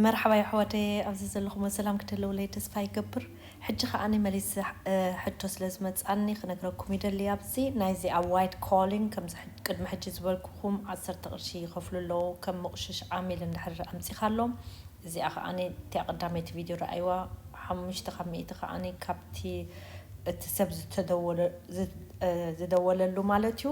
መርሓባ የሕዋተየ ኣብዚ ዘለኹሞ ሰላም ክትህልውለይ ተስፋ ይገብር ሕጂ ከኣ መሊስ ሕቶ ስለ ዝመጻኒ ክነግረኩም ይደሊ ኣብዚ ናይዚ ኣብ ዋይት ኮሊን ከምዚ ቅድሚ ሕጂ ዝበልኩኹም ዓሰርተ ቅርሺ ይኸፍሉ ኣለዉ ከም ምቑሽሽ ዓሚል እንድሕር ኣምጺኻሎም እዚኣ ከኣ እቲኣ ቀዳመይቲ ቪድዮ ረኣይዋ ሓሙሽተ ካብ ሚእቲ ከኣ ካብቲ እቲ ሰብ ዝተደወለ ዝደወለሉ ማለት እዩ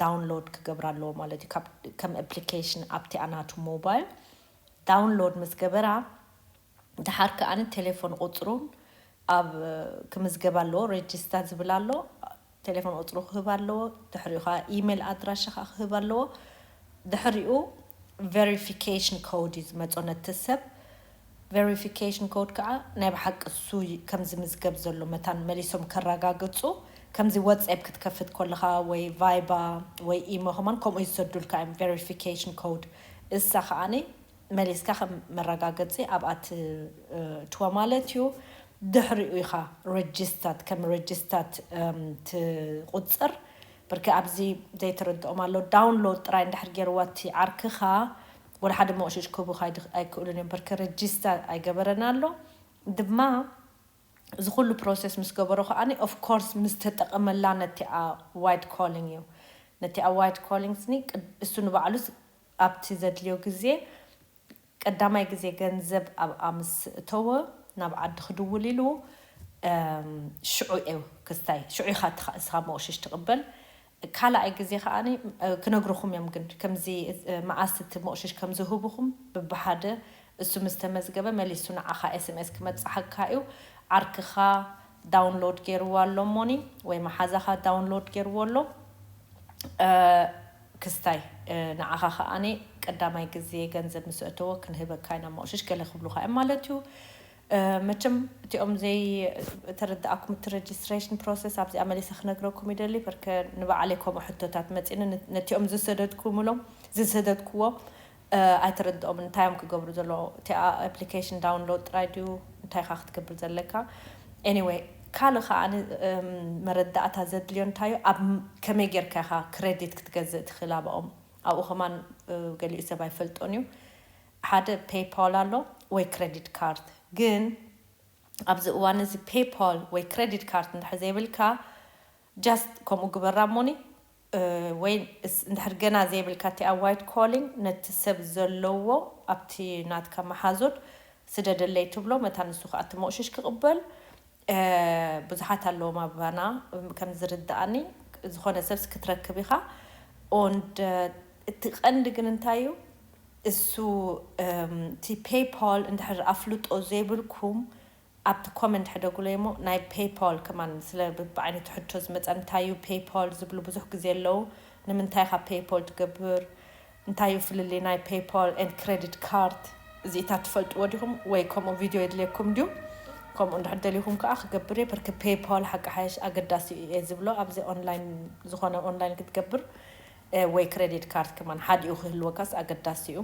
ዳውንሎድ ክገብራ ኣለዎ ማለት እዩ ካብ ከም ኣፕሊኬሽን ኣብቲኣ ናቱ ሞባይል ዳውንሎድ ምስ ገበራ ድሓር ከኣ ቴሌፎን ቁጽሩን ኣብ ክምዝገብ ኣለዎ ሬጂስታ ዝብል ኣሎ ቴሌፎን ቁጽሩ ክህብ ኣለዎ ድሕሪኡ ከኣ ኢሜል ኣድራሻ ከኣ ክህብ ኣለዎ ድሕሪኡ ቨሪፊኬሽን ኮድ እዩ ዝመጾ ነቲ ሰብ ቨሪፊኬሽን ኮድ ከኣ ናይ ብሓቂ እሱ ከም ዝምዝገብ ዘሎ መታን መሊሶም ከራጋግጹ ከምዚ ወጼብ ክትከፍት ኮለኻ ወይ ቫይባ ወይ ኢሞ ከማን ከምኡ ይሰዱልካ እዮም ቨሪፊኬሽን ኮድ እሳ ከኣ መሊስካ ከም መራጋገጺ ኣብኣ ትእትዋ ማለት እዩ ድሕሪኡ ኢኻ ረጂስታት ከም ረጂስታት ትቁጽር ብርክ ኣብዚ ዘይተረድኦም ኣሎ ዳውንሎድ ጥራይ እንድሕር ጌርዋ እቲ ዓርክኻ ወላ ሓደ ሞቕሽሽ ክህቡ ኣይክእሉን እዮም በርከ ረጂስታር ኣይገበረን ኣሎ ድማ እዚ ኩሉ ፕሮሰስ ምስ ገበሮ ከኣ ኦፍ ኮርስ ምስ ተጠቐመላ ነቲኣ ዋይት ኮሊንግ እዩ ነቲኣ ዋይት ኮሊንግ ስኒ እሱ ንባዕሉስ ኣብቲ ዘድልዮ ግዜ ቀዳማይ ግዜ ገንዘብ ኣብኣ ምስ እተወ ናብ ዓዲ ክድውል ኢሉ ሽዑ እዩ ክስታይ ሽዑ ኢኻ እስኻ ሞቕሽሽ ትቕበል ካላኣይ ግዜ ከኣ ክነግሩኹም እዮም ግን ከምዚ መኣስ እቲ ሞቕሽሽ ከም ዝህቡኹም ብብሓደ እሱ ምስ ተመዝገበ መሊሱ ንዓኻ ኤስምኤስ ክመጽሓካ እዩ ዓርክኻ ዳውንሎድ ጌርዋ ኣሎ እሞኒ ወይ መሓዛኻ ዳውንሎድ ጌርዎ ኣሎ ክስታይ ንዓኻ ከኣ ቀዳማይ ግዜ ገንዘብ ምስ እተዎ ክንህበካ ኢና ሞቕሽሽ ገለ ክብሉኻ እዮም ማለት እዩ መቸም እቲኦም ዘይ ተረዳኣኩም እቲ ረጅስትረሽን ፕሮሰስ ኣብዚኣ መሊሰ ክነግረኩም ይደሊ ፐርከ ንባዓለይ ከምኡ ሕቶታት መጺኒ ነቲኦም ዝሰደድኩምሎም ዝሰደድኩዎ ኣይተረድኦምን እንታይ እዮም ክገብሩ ዘለዎ እቲኣ ኣፕሊኬሽን ዳውንሎድ ጥራይ ድዩ እንታይ ኢኻ ክትገብር ዘለካ ኤኒወይ ካልእ ከኣ መረዳእታ ዘድልዮ እንታይ እዩ ኣብ ከመይ ጌርካ ኢኻ ክሬዲት ክትገዝእ ትኽእል ኣባኦም ኣብኡ ከማን ገሊኡ ሰብ ኣይፈልጦን እዩ ሓደ ፔይፓል ኣሎ ወይ ክረዲት ካርድ ግን ኣብዚ እዋን እዚ ፔይፓል ወይ ክረዲት ካርድ እንድሕር ዘይብልካ ጃስት ከምኡ ግበራ እሞኒ ወይ እንድሕር ገና ዘይብልካ እቲኣ ዋይት ኮሊንግ ነቲ ሰብ ዘለዎ ኣብቲ ናትካ መሓዙት ስደደለይ ትብሎ መታን ንሱ ከዓ እቲ ሞቕሽሽ ክቕበል ብዙሓት ኣለዎም ኣባና ከም ዝርደኣኒ ዝኾነ ሰብስ ክትረክብ ኢኻ ኦንድ እቲ ቀንዲ ግን እንታይ እዩ እሱ እቲ ፔይፖል እንድሕር ኣፍልጦ ዘይብልኩም ኣብቲ ኮመንት ሕደጉለይ እሞ ናይ ፔይፖል ከማን ስለ ብዓይነቱ ሕቶ ዝመፀ እንታይ እዩ ፔይፖል ዝብሉ ብዙሕ ግዜ ኣለው ንምንታይ ኢኻ ፔይፖል ትገብር እንታይ እዩ ፍልልይ ናይ ፔይፖል ኤንድ ክረዲት ካርድ እዚኢታት ትፈልጥዎ ዲኹም ወይ ከምኡ ቪድዮ የድልየኩም ድዩ ከምኡ እንድሕር ደሊኹም ከኣ ክገብር እየ ብርክ ፔይፖል ሓቂ ሓይሽ ኣገዳሲ እዩ እየ ዝብሎ ኣብዚ ኦንላይን ዝኾነ ኦንላይን ክትገብር ወይ ክረዲት ካርድ ከማን ሓዲኡ ክህልወካስ ኣገዳሲ እዩ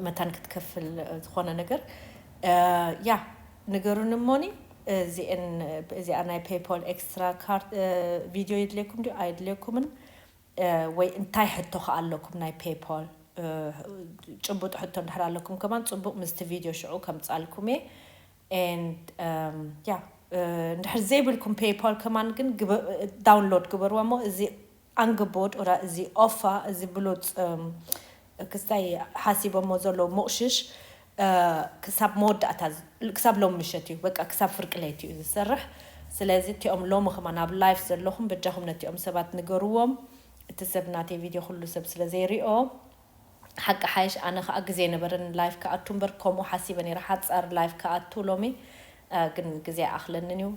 መታን ክትከፍል ዝኾነ ነገር ያ ንገሩኒ እሞኒ እዚኤን እዚኣ ናይ ፔይፖል ኤክስትራ ካርድ ቪድዮ የድልየኩም ድዩ ኣየድልየኩምን ወይ እንታይ ሕቶ ከ ኣለኩም ናይ ፔይፖል ጭቡጥ ሕቶ እንድሕር ኣለኩም ከማን ጽቡቅ ምስቲ ቪድዮ ሽዑ ከምጻልኩም እየ and yeah እንድሕር ዘይብልኩም ፔይፖል ከማን ግን ዳውንሎድ ግበርዎ እሞ እዚ ኣንግቦድ ኦራ እዚ ኦፋ እዚ ብሉጽ ክስታይ ሓሲቦሞ ዘለዉ ምቕሽሽ ክሳብ መወዳእታ ክሳብ ሎሚ ምሸት እዩ በቃ ክሳብ ፍርቂ ለይቲ እዩ ዝሰርሕ ስለዚ እቲኦም ሎሚ ከማን ኣብ ላይፍ ዘለኹም በጃኹም ነቲኦም ሰባት ንገርዎም እቲ ሰብ ናተይ ቪድዮ ኩሉ ሰብ ስለ ዘይሪኦ ሓቂ ሓይሽ ኣነ ከኣ ግዜ ኣይነበረንን ላይፍ ክኣቱ እምበር ከምኡ ሓሲበ ነይረ ሓጻር ላይፍ ክኣቱ ሎሚ ግን ግዜ ኣኣኽለንን እዩ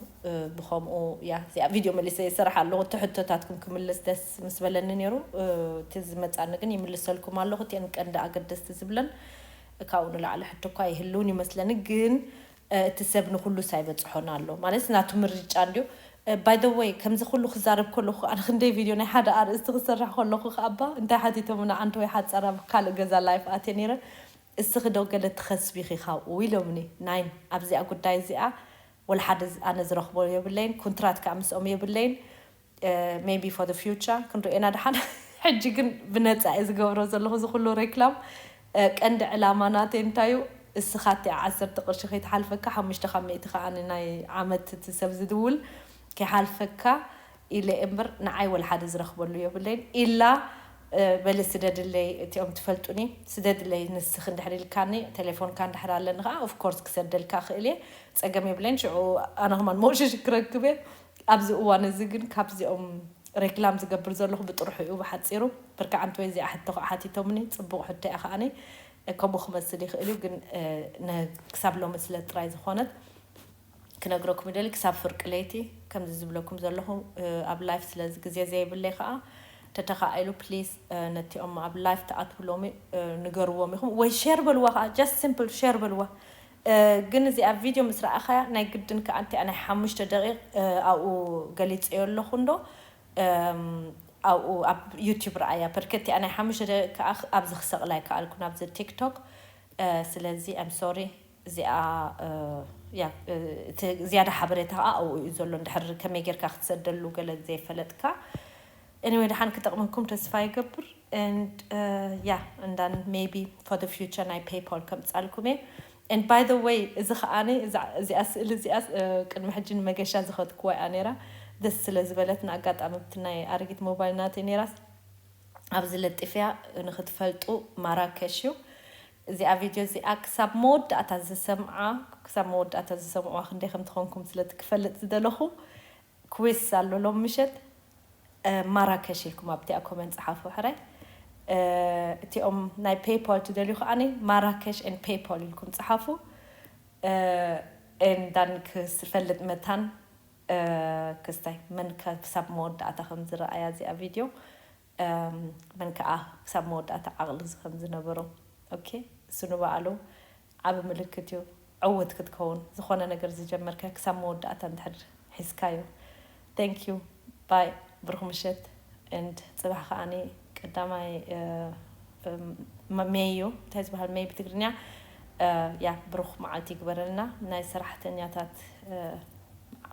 ብኸምኡ እያ እዚኣ ቪድዮ መሊሰ ይሰርሕ ኣለኹ እቲ ሕቶታትኩም ክምልስ ደስ ምስ በለኒ ነይሩ እቲ ዝመጻኒ ግን ይምልሰልኩም ኣለኹ እቲኤን ቀንዲ ኣገደስቲ ዝብለን ካብኡ ንላዕሊ ሕቶ እኳ ኣይህልውን ይመስለኒ ግን እቲ ሰብ ንኹሉስ ኣይበጽሖን ኣሎ ማለት ናቱ ምርጫ እንድዩ ባይ ዘ ወይ ከምዚ ኩሉ ክዛረብ ከለኹ ኣነ ክንደይ ቪድዮ ናይ ሓደ ኣርእስቲ ክሰርሕ ከለኹ ከኣባ እንታይ ሓቲቶምና ዓንተወይ ሓጻራ ካልእ ገዛ ላይፍ ኣትየ ነይረ እስኺ ዶ ገለ ትኸስቢ ኢኺ ካብኡ ኢሎምኒ ናይን ኣብዚኣ ጉዳይ እዚኣ ወላ ሓደ ኣነ ዝረኽቦ የብለይን ኩንትራት ከኣ ምስኦም የብለይን ሜይቢ ፎር ዘ ፊውቸር ክንሪኦ ኢና ደሓን ሕጂ ግን ብነጻ እየ ዝገብሮ ዘለኹ እዚ ኩሉ ሬክላም ቀንዲ ዕላማ ናተይ እንታይ እዩ እስኻ እቲኣ ዓሰርተ ቅርሺ ከይትሓልፈካ ሓሙሽተ ካብ ሚእቲ ከኣ ናይ ዓመት እቲ ሰብ ዝድውል ከይሓልፈካ ኢለ እምብር ንዓይ ወልሓደ ዝረክበሉ የብለይን ኢላ በሊ ስደድለይ እቲኦም ትፈልጡኒ ስደድለይ ንስኪ እንድሕር ኢልካኒ ቴሌፎንካ እንድሕር ኣለኒ ከኣ ኦፍ ኮርስ ክሰደልካ እክእል እየ ጸገም የብለይን ሽዑ ኣነ ከማን መውሸሺ ክረክብ እየ ኣብዚ እዋን እዚ ግን ካብዚኦም ሬክላም ዝገብር ዘለኩ ብጥርሑ እዩ ብሓጺሩ ብርክ ዓንተወይ እዚኣ ሕቶ ከኣ ሓቲቶምኒ ጽቡቅ ሕቶ እያ ከኣ ከምኡ ክመስል ይክእል እዩ ግን ክሳብ ሎሚ ስለ ጥራይ ዝኮነት ክነግረኩም ይደሊ ክሳብ ፍርቂ ለይቲ ከምዚ ዝብለኩም ዘለኹ ኣብ ላይፍ ስለዚ ግዜ ዘይብለይ ከኣ ተተኻኢሉ please ነቲኦም ኣብ ላይፍ ትኣትዉ ሎሚ ንገርዎም ኢኹም ወይ ሼር በልዋ ከኣ just simple ሼር በልዋ ግን እዚኣ ቪድዮ ምስ ረኣኻያ ናይ ግድን ከኣ እንቲኣ ናይ ሓሙሽተ ደቂቕ ኣብኡ ገሊጸዮ ኣለኹ እንዶ ኣብኡ ኣብ ዩቲዩብ ረኣያ ፐርከ እቲኣ ናይ ሓሙሽተ ደቂቕ ከኣ ኣብዚ ክሰቕላ ኣይከኣልኩን ኣብዚ ቲክቶክ ስለዚ I'm sorry እዚኣ እያ እቲ ዝያዳ ሓበሬታ ከኣ ኣብኡ እዩ ዘሎ እንድሕር ከመይ ጌርካ ክትሰደሉ ገለ ዘይፈለጥካ Anyway ደሓን ክጠቕመኩም ተስፋ ይገብር and yeah and then maybe for the future ናይ PayPal ከምጻልኩም እየ and by the way እዚ ከኣ እዚኣ ስእሊ እዚኣ ቅድሚ ሕጂ ንመገሻ ዝኸትክዋ እያ ነይራ ደስ ስለ ዝበለትና ኣጋጣሚ ብቲ ናይ ኣረጊት ሞባይል ናተይ ነይራስ ኣብዚ ለጢፍያ ንክትፈልጡ ማራከሽ እዩ እዚኣ ቪድዮ እዚኣ ክሳብ መወዳእታ ዝሰምዓ ክሳብ መወዳእታ ዝሰምዕዋ ክንደይ ከም ትኾንኩም ስለቲ ክፈልጥ ዝደለኹ ኩዊስ ኣሎ ሎሚ ምሸት ማራከሽ ኢልኩም ኣብቲኣ ኮመንት ጽሓፉ ሕራይ እቲኦም ናይ ፔይፖል ትደልዩ ከኣኒ ማራከሽ ኤን ፔይፖል ኢልኩም ጽሓፉ ኤን ዳን ክፈልጥ መታን ክስታይ መን ክሳብ መወዳእታ ከም ዝረኣያ እዚኣ ቪድዮ እም መን ከኣ ክሳብ መወዳእታ ዓቅሊ ዝከም ዝነበሮ ኦኬ እሱ ንባዕሉ ዓቢ ምልክት እዩ ዕውት ክትከውን ዝኮነ ነገር ዝጀመርከ ክሳብ መወዳእታ እንድሕር ሒዝካዮ thank you bye ብሩክ ምሽት and ጽባሕ ከኣ ቀዳማይ እም ሜይ እዩ እንታይ ዝባሃል ሜይ ብትግርኛ ያ ብሩክ መዓልቲ ይግበረልና ናይ ሰራሕተኛታት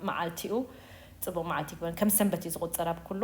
መዓልቲ እዩ ጽቡቅ መዓልቲ ይግበረልና ከም ሰንበት እዩ ዝቁጸር ኣብ ኩሉ